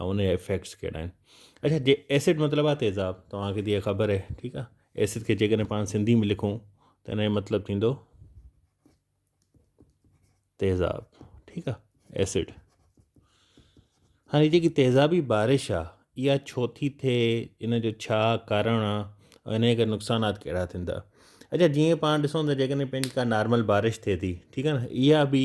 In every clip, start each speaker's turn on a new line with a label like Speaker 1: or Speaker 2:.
Speaker 1: ۽ ان جا افيڪٽس ڪهڙا آهن اچا جي ايسڊ مطلب آ تيزاب توهانکي تي خبر آهي ٺيڪ آ ايسڊ کي جيڪڏهن پاڻ سنڌي ۾ لکون ته ان جو مطلب ٿيندو تيزاب ٺيڪ آ ايسڊ هاڻي جيڪي تيزابي بارش آ اها ڇو ٿي ٿئي ان جو ڇا ڪارڻ آ ۽ ان جا نقصانات ڪهڙا ٿيندا اچا جيئن پاڻ ڏسون ته جيڪڏهن پنهنجي ڪا نارمل بارش ٿئي ٿي ٺيڪ آ نه اها به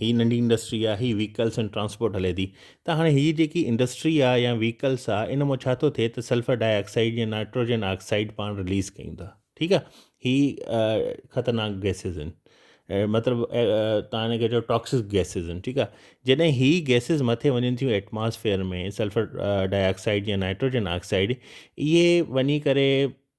Speaker 1: هي ننڍي انڊسٽري آ هي ويڪلس ۽ ٽرانسپورٽ هلي ٿي ته هاڻي هي جيڪي انڊسٽري آ يا ويڪلس آ ان مان ڇا ٿو ٿئي ته سلفر ڊاء آڪسائيڊ يا نائٽروجن آڪسائيڊ پاڻ رليز ڪيون ٿا ٺيڪ آ هي خطرناڪ گيسز آهن مطلب تان هن کي چئو ٽاڪسڪ گيسز آهن ٺيڪ آ جڏهن هي گيسز مٿي وڃن ٿيون ايٽماسفيئر ۾ سلفر ڊاء آڪسائيڊ يا نائٽروجن آڪسائيڊ اهي وڃي ڪري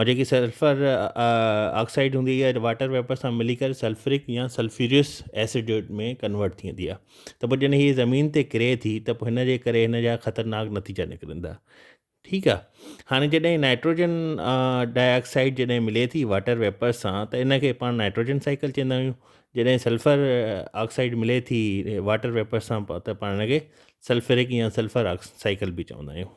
Speaker 1: ۽ جيڪي سلفر آڪسائيڊ هوندي آهي واٽر ويپر سان ملي ڪري سلفرڪ يا سلفيوريس ايسڊ ۾ ڪنورٽ ٿيندي آهي ته پوء جڏهن هي زمين تي ڪري ٿي ته پوء هن جي ڪري هن جا خطرناڪ نتيجا نڪرندا ٺيڪ آهي هاڻي جڏهن نائٽروجن ڊاء آڪسائيڊ جڏهن ملي ٿي واٽر ويپر سان ته ان کي پاڻ نائٽروجن سائيڪل چوندا آهيون جڏهن سلفر آڪسائيڊ ملي ٿي واٽر ويپر سان ته پاڻ هن کي سلفرڪ يا سلفر سائيڪل به چوندا آهيون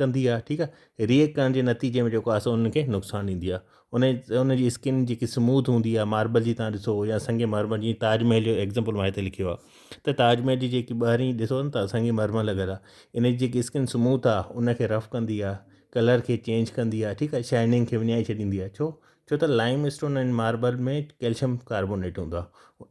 Speaker 1: ڪندي آهي ٺيڪ آهي ري ايڪٽ ڪرڻ جي نتيجي ۾ جيڪو آهي سو انهن کي نقصان ڏيندي آهي ان ان جي اسڪن جيڪي سموٿ هوندي آهي ماربل جي تان ڏسو يا سنگ مرمر جي تاج محل جو ايگزامپل ما هتي لکيو آهي ته تاج محل جي جيڪي ٻاهرين ڏسو ته سنگ مرمر لڳل آهي ان جي جيڪي اسڪن سموٿ آهي ان کي رف ڪندي آهي ڪلر کي چينج ڪندي آهي ٺيڪ آهي شائننگ کي وڃائي ڇڏيندي آهي ڇو ڇو ته limestone ۽ marble ۾ calcium carbonate هوندو آهي